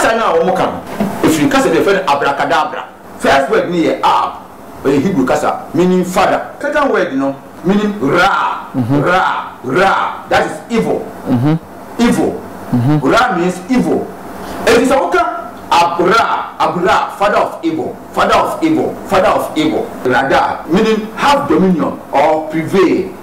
Kasa no a wɔka no firi kasa bi a yɛfrɛ no Abracadabra. First word no yɛ Ab, ɔyɛ Hebrew kasa, meaning father. Second word no meaning Ra, Ra, Ra, that is evil, evil, Ra means evil. Enti sɛ woka Ab-Ra, Ab-Ra, father of evil, father of evil, father of evil. Rada, meaning have dominion or prevail.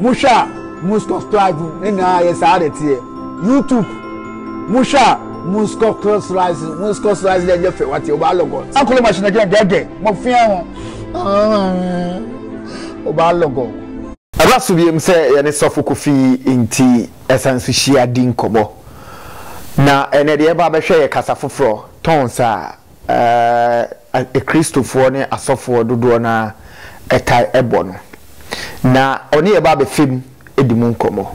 Mohwɛ a mo subscribe ne na ayɛ saa de teɛ YouTube mohwɛ a mo subscribe mo subscribe dɛ nyɛ fɛ wate ɔbaa lɔgɔ akɔlɔ machine agyina dɛdɛ mo fia ho ɔbaa lɔgɔ. Ɛba so biom sɛ yɛne sɔfo Kofi nti ɛsan so hyia di nkɔmɔ na ɛnɛ deɛ ɛba bɛhwɛ yɛ kasa foforɔ tɔn saa. a Kristofoɔ ne asɔfoɔ dodoɔ no ara taa bɔ no, na ɔne yɛn ba abɛfa mu di mu nkɔmmɔ.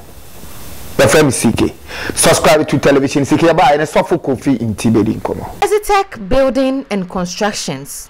Wɔfrɛ me CK. Subscribe to television CK Yɛn ba a yɛne Sɔfo Kofi Nti bɛdi nkɔmmɔ. Exitech Building and Constructions.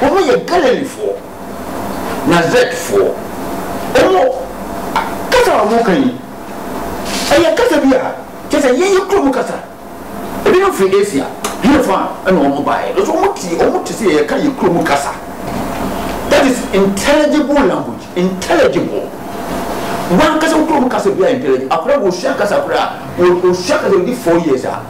Wɔyɛ Galileefoɔ, Nasaretfoɔ. Wɔn kasa a wɔka yi, ɛyɛ kasa bi a kyerɛ sɛ ɛyɛ yɛn kurom kasa. Ebinom firi Asia, hefa na wɔbaeɛ? Nanso wɔte, wɔte sɛ yɛreka yɛn kurom kasa. That is intelligible language, intelligible. W'ankasa wo kurom kasa biara yɛ intelligible. Akwadaa bi, ɔsua kasa koraa a, ɔsua kasa, ɔdi four years a,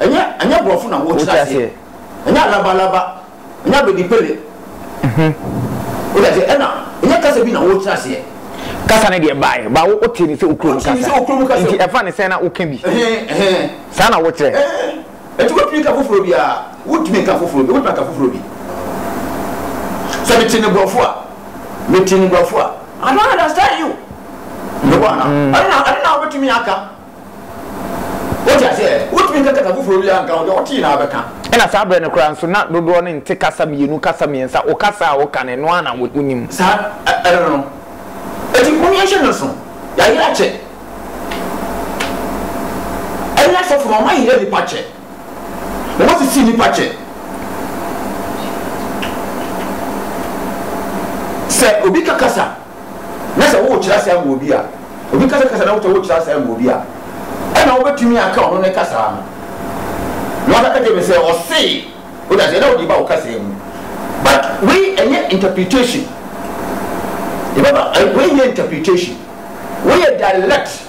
Ɛnyɛ ɛnyɛ borɔfo na wɔkyerɛ aseɛ ɛnyɛ alaba alaba ɛnyɛ abedi pele o da seɛ ɛna ɛnyɛ kasa bi na wɔkyerɛ aseɛ. Kasa ne deɛ baaɛ ba wo te ne sɛ okuro mu kasa nti ɛfa ne sɛn na wo ka bi saa na wɔkyerɛ. Ɛti wotumi ka foforɔ bi a wotumi ka foforɔ bi wotumi ka foforɔ bi sɛ me te ne borɔfo a me te ne borɔfo a I don't understand you. Mewɔ ana ɛna ɛna wobɛtumi aka Wote aseɛ? Wontumi nka kasa foforɔ biara nka ho, deɛ wotee no ara bɛka. Ɛna saa berɛ no koraa nso, na dodoɔ no nte kasa mmienu, kasa mmiɛnsa, wo kasa a woka no, ɛno ara na wonim. Saa ɛno no. Enti mo yɛnhyɛ no nso, yɛayere akyɛ. Ɛne asɔfo no, wɔayere nnipa akyɛ. Wɔasisi nnipa akyɛ. Sɛ obi ka kasa. na sɛ worekyerɛ ase ama obi a, obi kasa kasa na wotɔ worekyerɛ ase ama obi a, ɛna wobɛtumi aka ɔno ne kasaa no. Na ɔka ka kyerɛɛ me sɛ, ɔsee, wote aseɛ, na wode ba wo kasaa mu. But wei ɛnyɛ interpretation. Yɛbɛba, wei nyɛ interpretation. Wei yɛ direct.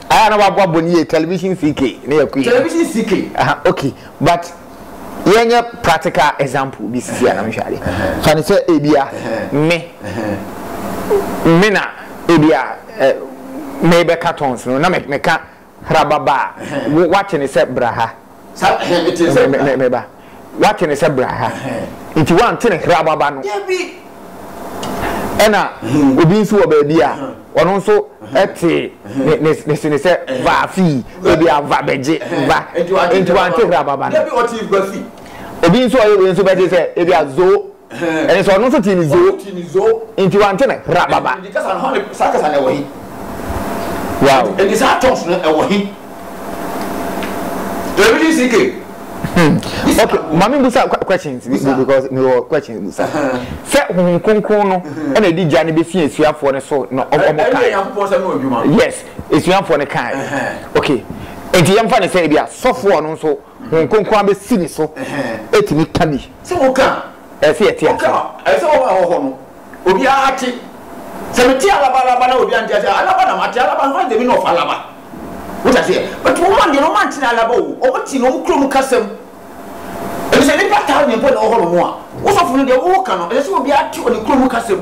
Aya na wa bɔ bɔ ni ye television CK ne ya kui. Television CK. Aha okay but yɛ nyɛ practical example bi sisi a na mehwɛ ade. Fa ne sɛ ebia me me na ebia eh, me bɛka tons no na me ka hrababa a wate ne sɛ bra ha. Meba. Woate no sɛ bra ha. Nti woante no hra baba no. Ɛna obi nso wɔ baabi a ɔno nso te ne sene sɛ va fii ebi a va bɛgye va nti wante hra baba no. Obi nso ɔyɛ wei nso bɛgye sɛ ebi a zo. Ɛne sɛ ɔno nso tee ne zoo, nti wante no rababa. Wow. Ɛnti saa tons no ɛwɔ he? Ɛbidi si ke. Hmm. Okay, maame busa questions because me wɔ questions busa. Sɛ honhom kronkron no ɛna ɛdi gya no bɛsi asuafoɔ no so na ɔmo kan. Yes, asuafoɔ no kan. Okay, nti yɛmfa no sɛ ebi a sɔfoɔ no nso Hon Kronkron abɛsi ne so atumi ka bi. Sɛ woka a. Ɛsɛ sɛ yɛte ase. Woka a, ɛsɛ sɛ wɔma ɛwɔ hɔ no, obiara te. Sɛ mete alaba alaba na obiara nte aseɛ a, alaba na mate, alaba no, hwan is the meaning of alaba? Wote aseɛ? But wɔn a deɛ no, wɔante no alaba o, wɔte no wɔn kurom kasam. Ɛfiri sɛ nnipa thousand mpo na ɛwɔ hɔnom a, wo sɔfo no deɛ woka no, ɛsɛ sɛ obiara te wɔ ne kurom kasam.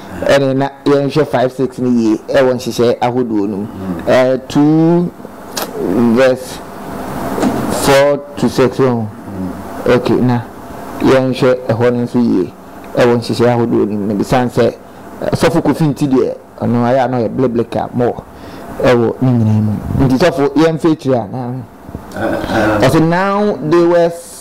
Ɛne na yɛnhwɛ five six no yie ɛwɔ nhyehyɛɛ ahodoɔ no mu. Ɛɛ two verse four to six ho ok na yɛnhwɛ ɛhɔ no nso yie ɛwɔ nhyehyɛɛ ahodoɔ no mu na besiane sɛ sɔfo Kofi nti deɛ ɔno ayɛ a na ɔyɛ blebleka more ɛwɔ ne nyinaa mu nti sɔfo yɛnfa akyire anaa. Ɔse now they were.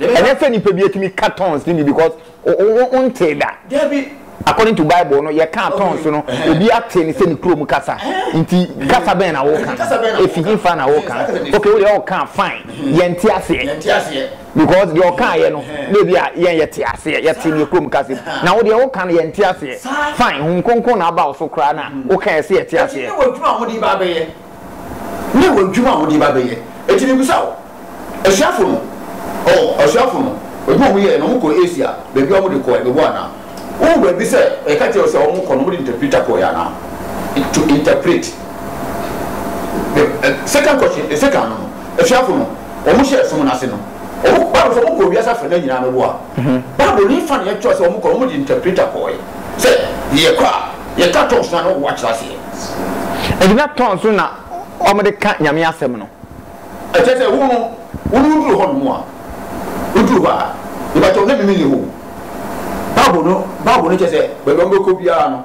Ɛnyɛ sɛ nipa bi atumi ka tongues no bi because wo ntee da. According to bible no yɛ kaa tongues no obi ate no sɛ ne kurom kasa. Nti kasa bɛn na wo ka? Efi he fa na wo ka? Okay wo deɛ wo kaa fine yɛ nte aseɛ because deɛ ɔkaa yɛ no na ebi a yɛn yɛ te aseɛ yɛ te neɛ kurom kasa mu. Na wo deɛ wo ka no yɛ nte aseɛ fine hum kronkron na aba wo so koraa na wo ka yɛ sɛ yɛ te aseɛ. Ne wɔ adwuma a wɔde ba bɛyɛ. Enti mebisa wo, asuafo no, oh, asuafo no, adwuma a wɔyɛɛ no, wɔkɔɔ Asia, baabi a wɔde kɔɔ ɛ, meboa anaa? Wohu baabi sɛ yɛka kyerɛɛ wo sɛ wɔkɔ no, wɔde interpreter kɔeɛ anaa? To interpret. The eh, second question, the second no, asuafo no, wɔhyɛɛ som no ase no, wɔkɔ, Bible sɛ wɔkɔɔ wiase afanan nyinaa, meboa? ho. Bible no mfa nea ɛkyerɛw sɛ wɔkɔ no, wɔde interpreter kɔe. Sɛ yɛkɔ a, yɛka tongues no a, na wɔwɔ akyerɛ aseɛ. Enti na tongues no na wɔde ka Nyame asɛm no. Ɛkyerɛ sɛ wo no, wo ne woduru hɔnom a, woduru hɔ a, mepakyɛw na mimi nni hɔ o. Bible no, Bible no kyerɛ sɛ baabi a wɔbɛkɔ biara no.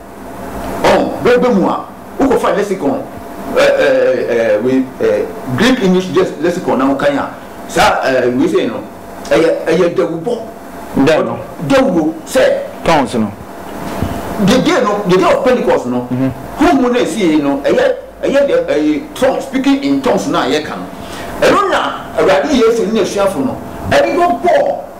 Ɔn, bere ba mu a, wokɔfa lexicon, ɛɛ, ɛɛ, ɛɛ, wei, ɛɛ, Greek-English Just Lexicon na wokan a, saa, ɛɛ, wei sei no, ɛyɛ, ɛyɛ dawurubɔ. Dɛn no? Dawuro, sɛ. Tongues no. The day no, the day of Pentecost no, honhom no a esiei no, ɛyɛ, ɛyɛ deɛ, ɛɛ, tongues, speaking in tongues no a yɛka no. Ɛno na Awurade Yesu ne n'asuafo no de bɛbɔɔ.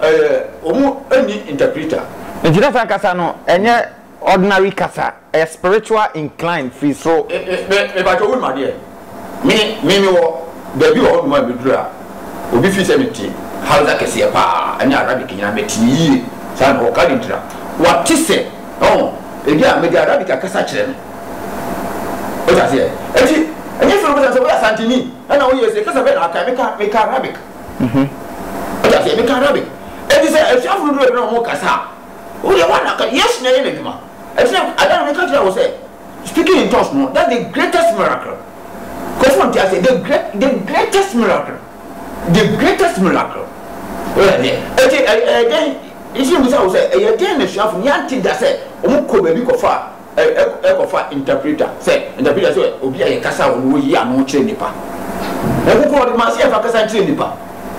Ɛɛ ɔmo nni interpreter. Nti na saa kasa no ɛnyɛ ordinary kasa, ɛyɛ spiritual incline firi soro. Me me pakyɛ wonim adeɛ? Me me me wɔ baabi wɔ hɔ nom a me duru a obi fii sɛ me te Hausa kɛseɛ paa ɛne Arabic nyinaa me te yie saa na ɔka denti na wate sɛ ɔho ebi a me de Arabic akasa kyerɛ no wote aseɛ ɛti ɛnyɛ sɛ ɔbɛsa sɛ woyɛ Asanteni ɛna woyɛ sɛ kasa bɛɛ na aka me ka me ka Arabic. ho. Wate aseɛ? Meka Rabbi. Enti sɛ asuafo no duruu baabi na wɔrekasa a, wo deɛ woana ka, Yesu na ɛyɛ n'adwuma. Ɛnti na ada no meka kyerɛɛ wo sɛ, speaking in tongues no, that's the greatest miracle. Nkurɔfo wonte aseɛ, the great, the greatest miracle, the greatest miracle. Woyɛ adeɛ. Enti ɛyɛ, ɛyɛ dɛn, nti na mebisa wo sɛ, ɛyɛ dɛn na asuafo no, yɛante da sɛ wɔkɔɔ baabi kɔfaa kɔ fa interpreter sɛ interpreter sɛ obi a yɛ kasa wɔ no wɔ yi ano kyerɛ nipa wɔn koko wɔde ma sɛ yɛ fa kasa nkyerɛ nipa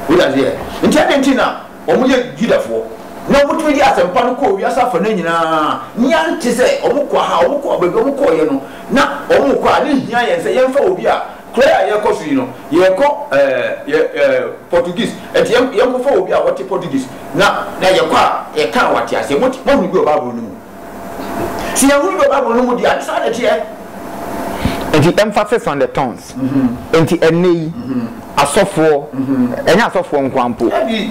wɔde ase yɛ nti ɛdɛ nti na wɔn yɛ judafoɔ na wɔn tumi de asɛmpa no kɔ wiase afa no nyinaa nia nti sɛ wɔn kɔ ha wɔn kɔ baabi wɔn kɔ yɛ no na wɔn kɔ a ne hia yɛn sɛ yɛn fa obi a kura yɛ a yɛ kɔ so yi no yɛ kɔ ɛɛ yɛ ɛɛ portuguese ɛti yɛn yɛn kɔ fa obi a wɔte portuguese na na yɛ kɔ a yɛ kan wɔte aseɛ mo mo hunu bi wɔ baabolo no mu. Ti ehuru bɔ Bible no mu di a, saa na ɛteɛ. Nti emphasis on the tons. Nti ɛnnɛ yi, asɔfoɔ, ɛnyɛ asɔfoɔ nko ara mpo,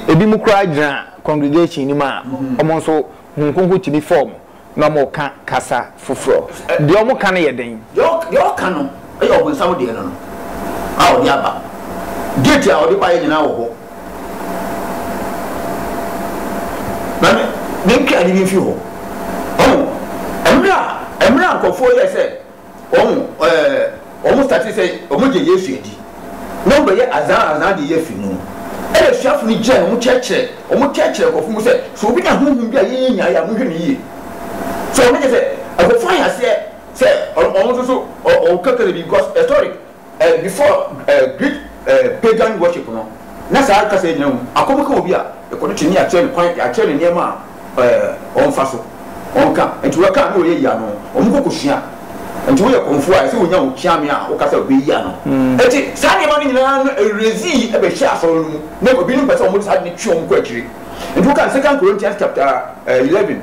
ebinom koraa gyina congregation no mu a, wɔn nso Honhom Kronkron tumi fa wɔn na wɔka kasa foforɔ. Deɛ wɔka no yɛ den. Deɛ ɔka no. Ɛyɛ ɔbonsam deɛ no no a ɔde aba. Gate a ɔde baeɛ nyinaa wɔ hɔ. Na ne ne nkran no bi mfi hɔ. Ɔho mmerɛ a mmerɛ a nkurɔfoɔ yɛɛ sɛ ɔho ɛɛ wɔn starte sɛ wɔn gye Yesu adi na wɔn bɛyɛ azaa azaa deɛ yɛfiri no ɛna asuafo no gyina na wɔn kyerɛkyerɛ wɔn kyerɛkyerɛ nkurɔfoɔ mu sɛ sɛ obi nya honhom bi a yɛnyɛ nyaeɛ a monhwɛ no yie sɛ wɔn kyɛ sɛ nkurɔfoɔ ahyɛ aseɛ Sɛ ɔno ɔno nso so ɔ ɔwɔ kakra bi because historic ɛ before ɛ Greek ɛ pagan worship no na saa kasa yi gyina mu. Akɔm ka obi a, yɛkɔ no kyene yɛakyerɛ no kwan yɛakyerɛ no nneɛma a ɛ ɔmfa so ɔnka nti waka a na ɔyɛ yie ano ɔmo kɔ kɔ sua nti woyɛ kɔmfoɔ a ɛsɛ wonya wo kyeame a woka sɛ ɔbɛyi ano. Nti saa nneɛma no nyinaa no ɛrezii ɛbɛhyɛ asɔre no mu na ebinom pɛ sɛ ɔmo de saa ade no twe ɔmo kɔ akyire nti woka no second Corinthians chapter ɛ eleven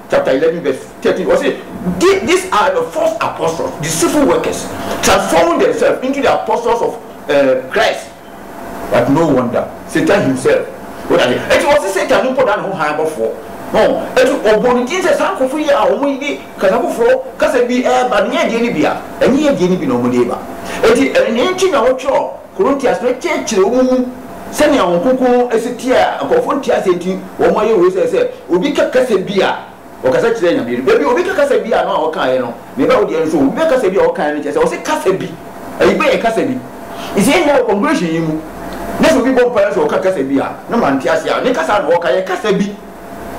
chapter eleven verse thirteen, ɔse, These are the false apostles, deceitful workers, transforming themselves into the apostles of eh, Christ. But no wonder, Satan himself ɔda ne Eti ɔse Satan no mpo da ne ho hann bɔfoɔ. Ho, eti ɔbɔ ne din sɛ saa nkurɔfoɔ yi a wɔn de kasa foforɔ kasa bi ɛreba no nyɛ deɛ no bi a, ɛnyɛ deɛ no bi na wɔn de reba. Eti ɛno nti na wɔtwerɛ Korintias no kyerɛkyerɛ wɔn mu sɛnea wɔn kronkron no si teɛ a nkurɔfo nte ase nti wɔayɛ wei sɛ sɛ obi ka kasa bi a ɔkasa kyerɛ Nyame no baabi a obi ka kasa bi a no a ɔkaeɛ no ne ba wo deɛ nso obi bɛ kasa bi a ɔkaeɛ no kyerɛ sɛ ɔse kasa bi ɛyi bɛyɛ kasa bi nti yɛ nyinaa wɔ congregation yi mu na sɛ obi bɔ mpaeɛ nso ɔka kasa bi a na ma nte ase a ne kasa na ɔka yɛ kasa bi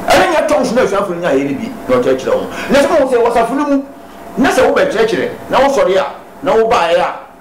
ɛne nyɛ tongues na asuafo no nyaeɛ no bi na ɔkyerɛkyerɛ wɔn na sɛ mo sɛ wɔsafo no mu na sɛ wobɛkyerɛkyerɛ na wosɔre a na wobaeɛ a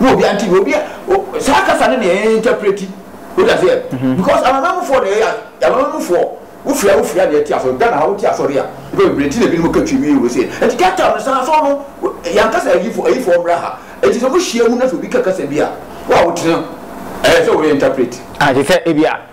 na obi ante bi obi saa kasa no na yɛn interpreti wode aseɛ because amanamufoɔ na ɛyɛ amanamufoɔ wofiri a wofiri a na ɛte asɔre Ghana ha wote asɔre a wopɛ bebree ti na ebinom ka twi wie wɔ se nti Cape Town no saa so no yankasa ayifoɔ ayifoɔ mmra ha nti sɛ mohyia mu na sɛ obi ka kasa bi a wo a wotene ɛyɛ sɛ woyɛ interpret a te sɛ ebi a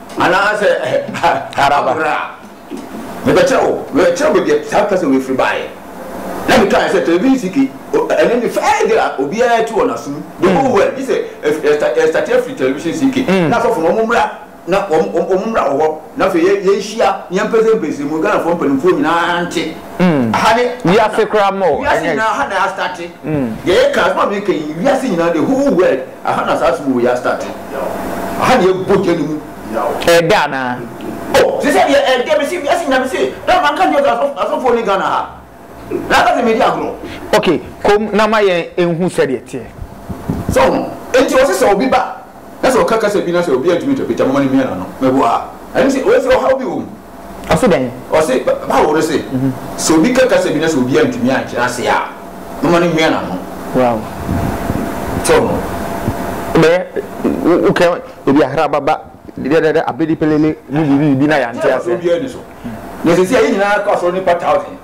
Anaasɛ Abura, mebɛkyerɛ wo, mebɛkyerɛ wo baabi a saa kasa wei firi baeɛ. Na mekaeɛ sɛ, Telebinski, ɛno ne first day a obiara tu wɔ n'asom, the whole world, gye sɛ yɛstate afiri Television CK, na asɔfo no wɔmmra, na wɔmmra wɔ hɔ, na afei yɛnhyia, na yɛmpɛsɛmpɛse mu, Ghanafoɔ mpanimfoɔ nyinaa nte. Aha ne, wiase koraa ma o, ɛnyɛ. Wiase nyinaa, aha na yɛastate. Deɛ yɛka, asɛm a meka yi, wiase nyinaa, the whole world. Aha na saa som wɔ yi a start no yaw. Aha na yɛ bɔ gya no mu yaw. Ɛɛdɛ anaa? Oh sesɛ deɛ ɛɛdɛ mese wiase nyina mese na ma nka nkyerɛ wo sɛ asɔfoɔ nni Ghana ha na aka sɛ medi agorɔ. Ok kom na ma yɛn nhu sɛdeɛ teɛ. So ho enti ɔse sɛ obi ba na sɛ ɔka kasa bi na sɛ obi antumi interprete a momma no mmia n'ano. Meboa a ɛne sɛ ɔse ɔhaw bi wɔ mu. Ɔse dɛn? Ɔse Bible no se, sɛ obi ka kasa bi na sɛ obi antumi ankyerɛ ase a, momma no nwia n'ano. Wow. Sɛ ɔho. Wobɛyɛ, wokɛ ebi ahrababa, dɛdɛdɛ, abedipelele, mu biribi biribi na yɛante aseɛ. Obiara ni so. Na sɛsi a yɛn nyinaa kɔ asɔre nipa thousand.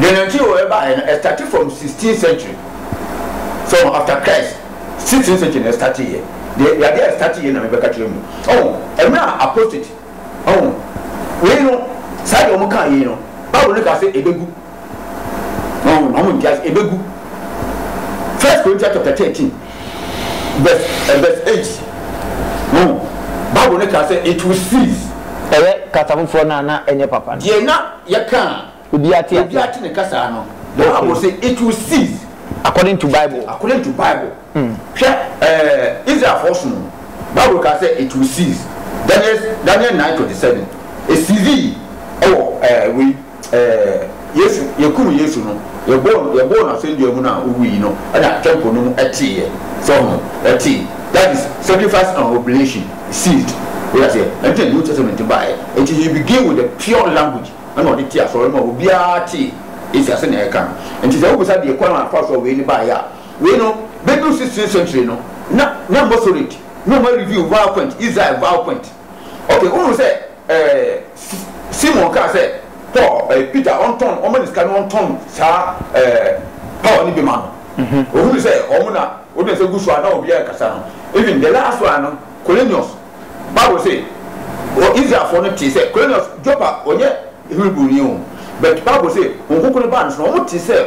Deɛ nantwie wɔ ɛbaeɛ no ɛstate from sixteen century from after Christ sixteen century na ɛstate yɛ deɛ yadeɛ a ɛstate yɛ na mebɛka kyerɛ mu ɔho ɛmerɛ a apostate ɔho wei no saa deɛ ɔmo kaa yei no bible no kaa sɛ ɛbɛgu ɔho na ɔmo ntease ɛbɛgu first Corinthians chapter thirteen verse eh, verse eight ɔho bible no kaa sɛ it will cease ɛyɛ kasa foforɔ no a na ɛnyɛ papa no. deɛ na Yɛka a, obi ate ne kasa no. The Bible se it will cease. According to Bible. According to Bible. Hwɛ ɛɛ Israelfoɔ som no. Bible kaa sɛ it will cease. Daniel Daniel nine twenty seven. Esizii ɛwɔ ɛɛ wei ɛɛ Yesu yɛkum Yesu no yɛbɔɔ no yɛbɔɔ no asɛndua mu no a owui yi no ɛna temple no mu ɛteeɛ. So ɔho ɛtee that is sacrifice and oblation. Sealed, Wote aseɛ? Ɛno nti na New Testament baeɛ. Enti he began with the pure language, ɛna ɔde tee asɔre no mu a obiara tee Asia sɛnea yɛka no. Enti sɛ wobisa deɛ kwan a ɛfa so a wei no baeɛ a, wei no, bɛduru sixteenth century no, na, na Masoret, na wɔareveal Vowel Point, Israel Vowel Point. Okay, wohunu sɛ. Ɛɛ, Simon kaa sɛ, Paul, ɛɛ, Peter ɔntɔn, ɔmma no sika na ɔntɔn saa, ɛɛ, power no bi ma no. Ohunuu sɛ wɔn na wɔde nsa gu so a na obiara rekasa no. Even the last one no, Cornelius, Bible se, wɔ Israelfoɔ no tee sɛ, Cornelius, Joppa, ɔnyɛ Hebrewni o, but Bible se, Honhom Kronkron baa ne so na wɔtee sɛ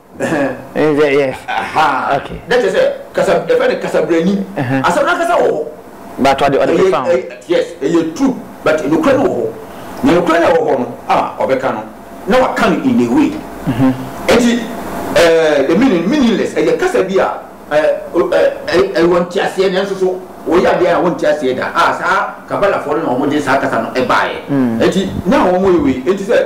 Nhwɛ yɛ. Ahaa. Okay. Na kyerɛ sɛ kasa yɛfrɛ no kasabrani. Asɛm no ankasa wɔ hɔ. But ɔde ɔde pepa ho. Yes, ɛyɛ true but nokorɛ no wɔ hɔ. Na nokorɛ no a ɛwɔ hɔ no a ɔbɛka no na waka no in a way. Enti the meaning meaningless ɛyɛ kasa bi a ɛwɔ nteaseɛ nanso so wɔyɛ adeɛ a wɔnte aseɛ da a saa kabalafoɔ no na wɔde saa kasa no baeɛ. Enti na wɔyɛ wei enti sɛ.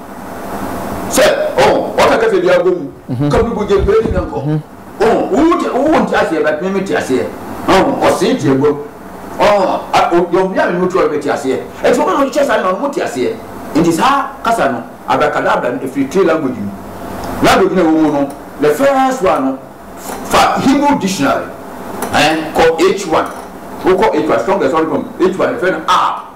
sɛ ɔn ɔka kasa bi abɔ mu ka bi bɔ gye bɛɛ ni na nkɔ ɔn wo te wo nti aseɛ bɛ mimi te aseɛ ɔn ɔsee te abɔ ɔn a ɔdɔm bi a mimi to ɔbɛ te aseɛ ɛti wɔn na ɔkyɛ saa na ɔmo te aseɛ nti saa kasa no abrakadabra no efiri three language mu language na ɛwɔ mu no the first one no fa Hebrew dictionary ɛn kɔ H1 wokɔ H1 strongest ɔdɔm H1 ɛfɛ no a.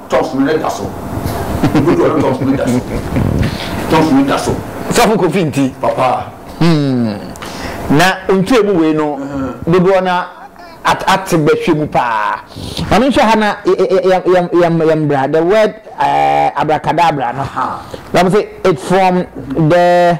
Toms mene da so. Egu do no toms mene da so. Toms mene da so. Sɔfo Kofi nti. Papa. Hmm. Na ntwe mu wei no dodoɔ na ate bɛhwɛ mu paa. Maame nhwɛ ha na yɛn bra the word eh, abracadabra no. Wɔn sɛ it from the.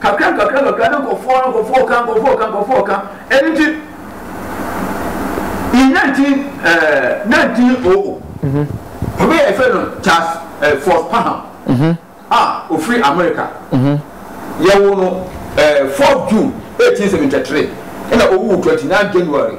Kakra nkakra nkakra ne nkɔfoɔ no nkɔfoɔ ɔka nkɔfoɔ ɔka nkɔfoɔ ɔka ɛno nti in 19 ɛɛ 1900 obi yɛ fɛ no Charles ɛɛ Fort Parham a ofiri America yɛwo no ɛɛ 4 June 1873 ɛna owu 29 January.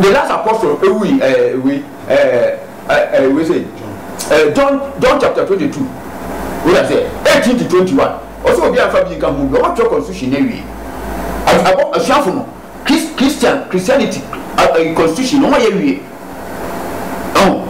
the last apostle ewui ɛɛ eh, ewei ɛɛ eh, ɛɛ eh, ewei sɛ ɛɛ John John chapter twenty two wei na sɛ eighteen to twenty one ɔsɛ obi anfa bi nka ho bi ɔbɛ twɛ constitution na ewie ɛbɔ asuafo no Christ Christian Christianity ɛɛ constitution na wɔn yɛ wie ɛho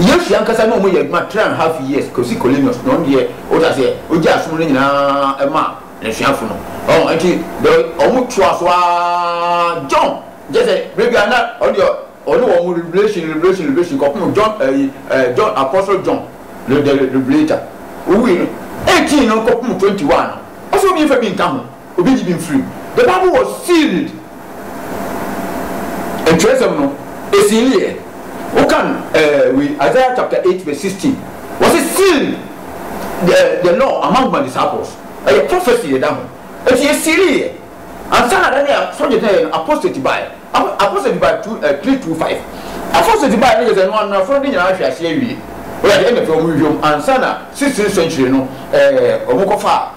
yesu ankasa na wɔn yɛ adwuma three and a half years kosi colonius na wɔn deɛ ɔda sɛ ɔgye asom no nyinaa ɛma. N'asuafo no, wɔn nti de wɔn toa so ara John gye sɛ bere biara na ɔde ɔne wɔn revelation revelation revelation kɔpem John ɛyi ɛɛ John apostle John the the revelator owui no eighteen no kɔpem twenty one no ɔsɛ obi nfa bi nka ho obi nyi bi nfiri mu the bible was sealed. Kyerɛwsɛm no, esi no yɛ. Wokan eh, wei, Isaiah chapter eight verse sixteen, wɔse seal the the law among my disciples, ɛyɛ prophecy yɛda ho, enti yɛsealee yɛ, ansa na da no a sɔgye tɛɛɛ no apostate baeɛ, apo apostate baeɛ two eh, three two five, apostate baeɛ no kyerɛ sɛ ɛno ano afono de nyinaa ahwe aseɛ awie, woyɛ adeɛ ɛna afei wɔn hwehwɛ mu, ansa na sixteenth century no eh, wɔn kɔfaa.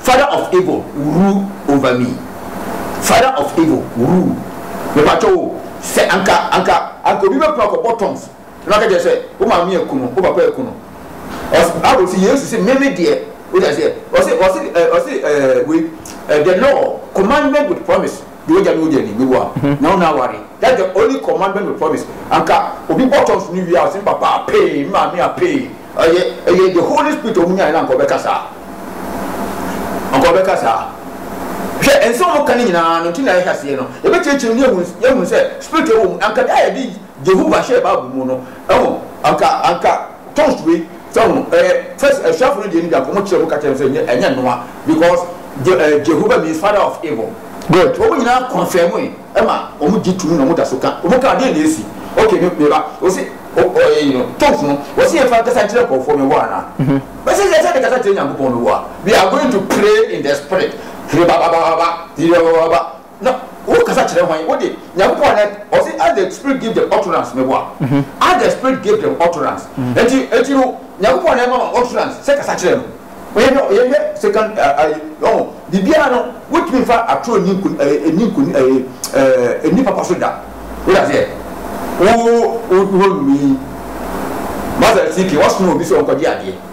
Father of evil rule over me Father of evil rule Mepakyɛw o sɛ anka anka anka obi bɛpra akɔbɔ tongues na waka kyerɛ sɛ wo maame aku no wo papa aku no Ɔs Bible se Yesu se me me deɛ wote aseɛ Ɔse ɔse ɛ ɔse ɛɛ wei ɛ the law commandment with promise Deɛ ogya ne ogya ni, me wa, nya wo na aware, that's the only commandment with promise, anka obi bɔ tɔnso no wie a ɔse me papa apee, me maame apee, ɛyɛ ɛyɛ the holy spirit a ɔmo nyaeɛ no anka ɔbɛka saa? Anka ɔbɛka saa? Hwɛ, nsɛm a ɔmo ka no nyinaa no nti na yɛhwɛ aseɛ no, yɛbɛkyerɛkyerɛ mu na yɛhu yɛhu sɛ spirit wɔ mu, anka da a yɛde Jehovah hyɛɛ bible mu no, ɛho, anka anka. Toast wei sɛ ɔho ɛyɛ first asuafo no deɛ no biako ɔmo kyerɛ mu ka kyerɛ no sɛ nyɛ ɛnyɛ noa because Je eh, Jehovah means father of evil. Good wɔn nyinaa confirm e ɛma wɔn gye tum na wɔn da so ka wɔn ka adeɛ na esi okay me me ba ɔsi o ɔ ɛyi no toast no wɔsi yɛn fa nkasa nkyerɛ nkɔfoɔ mi wɔ ana bɛsɛ sɛ ɛsɛ de kasa kyerɛ nyankopɔn mi wɔ a we are going to pray in the spirit hiri ba ba ba ba ba hiri ba ba ba ba Na wo kasa kyerɛ hwan? Wo de, Nyankopɔn a na, ɔse, as the spirit give them utterance, meboa? As the spirit give them utterance, enti, enti no, Nyankopɔn na ɛma wɔn utterance sɛ kasa kyerɛ no. Yɛhwɛ, yɛhwɛ second, ɛɛ, ayi, ɔho, biribiara no, wontumi mfa atoro nni nko, ɛɛ, ɛnni nko, ɛɛ, ɛɛ, ɛnni papa so da. Wote aseɛ? Wo, wo, wo, wo, num yi, Master Siki, wɔsoma obi sɛ ɔnkɔgye adeɛ.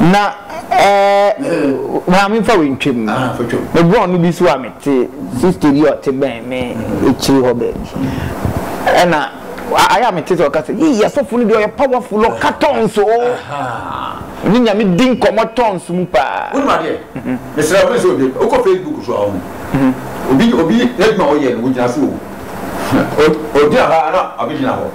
Na maame fa wei ntwa mu. Me borɔno bi so a mete sista bi a ɔte bɛn me akyiri hɔ baabi. Ɛna ayɛ a mete sɛ ɔka sɛ yii asɔfo no deɛ ɔyɛ powerful ɔka tons o. Ɔne nyame di nkɔmmɔ tons mu paa. Wonim adeɛ? Mesrɛ wo mensɛ obi wokɔ Facebook so a wohu. Obi obi n'adwuma a ɔyɛ no wogyina so o. Ogyina hɔ a na ɔbɛgyina hɔ.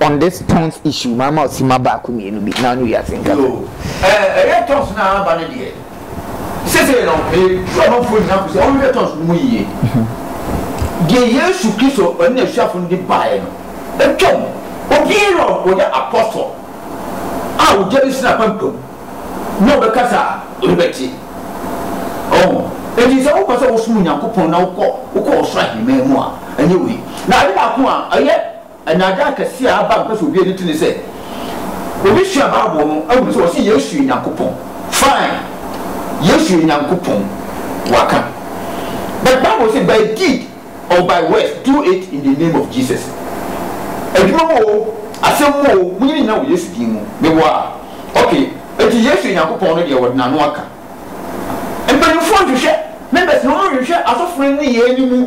on this tons issue maa ma ɔsima baako mmienu bi na ɔne wiase nkasa. Yoo, ɛɛ ɛyɛ tons na aba ne deɛ. Sese no, ɛduru amanfoɔ nyinaa kɔ sɛ wɔhwɛ tons no mu yie. Deɛ Yesu Kristo ɔne n'asuafo no de baeɛ no, atwam. Obiara a ɔyɛ apɔsɔ a ogya bi si n'apampam na ɔbɛkasa a, ɔbɛte. Ɔho, enti sɛ wopɛ sɛ wosom Onyankopɔn na wokɔ wokɔ ɔsoro ahemman mu a, ɛnyɛ wei. Na ade baako a ɛyɛ. Nnaadaa kɛse a aba a mepɛ sɛ obi ani to ne sɛ obi sua Bible no ahu sɛ wɔse Yesu yɛ Nyankopɔn. Fine, Yesu yɛ Nyankopɔn, waka. But Bible se by deed or by words do it in the name of Jesus. Adwuma mu o, asɛm mu o, monyɛ ne nyinaa wɔ Yesu din mu. Meboa a? Ok, enti Yesu yɛ Nyankopɔn no deɛ wɔde n'ano aka. Mpanyimfoɔ nhwehwɛ, members no, wɔnhwehwɛ asɔfo no nneyɛɛ no mu.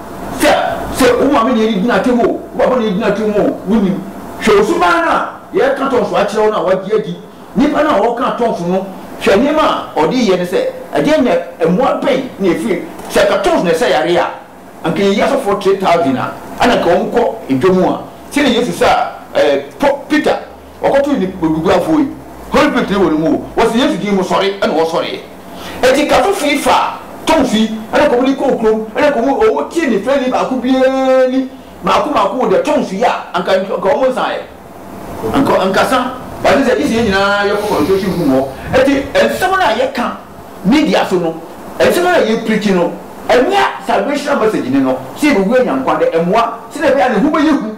Sɛ, sɛ wo maame na ɛredi n'atem o, wo papa na ɛredi n'atem o, wonnim. Hwɛ wo suban no a yɛreka tɔnso akyerɛ wo no a wagye adi. Nipa no a wɔreka tɔnso no, hwɛ nneɛma a ɔde reyɛ no sɛ ɛdeɛn na mmoa bɛn na ɛfiri no. Sɛ anka tɔnso na ɛsa yareɛ a, anka yɛyi asɔfoɔ three thousand a ɛna anka wɔkɔ dwam a, sɛdeɛ Yesu saa ɛɛ Peter. Wɔkɔtoo nnipaguguafoɔ yi, Holy Spirit tene wɔ ne mu o, wɔsee Yesu din mu, Sɔre! ɛna wɔsɔreeɛ. Enti Kato fii faa Tom fie, ɛna kɔm de kɔɔ kurom, ɛna kɔm wɔn tie ne fɛni baako biara ni, maako maako wɔ deɛ Tom so yɛ a, anka anka wɔn nsaeɛ, anka ankasa, but ɛne sɛ gye sɛ yɛn nyinaa yɛ kɔ concentration room hɔ, enti nsɛm no a yɛ ka media so no, nsɛm no a yɛ preachi no, ɛnyɛ salvational message ne no, sɛ yɛbɛwura Nyankwa dɛ, ɛmoa, sɛdeɛ ɛbɛyɛ a ne ho bɛyɛ hu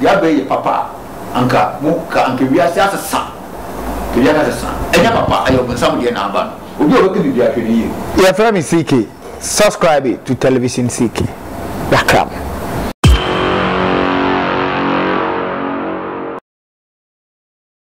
Dea bɛyɛ yɛ papa a anka mo ka anka wiase asesa anka wiase asesa ɛnyɛ papa ɛyɛ ɔbonsam deɛ na aba no obi a ɔbɛka biribi a hwɛ no yie. Yɛfrɛ me CK subscribe to television CK yɛakram.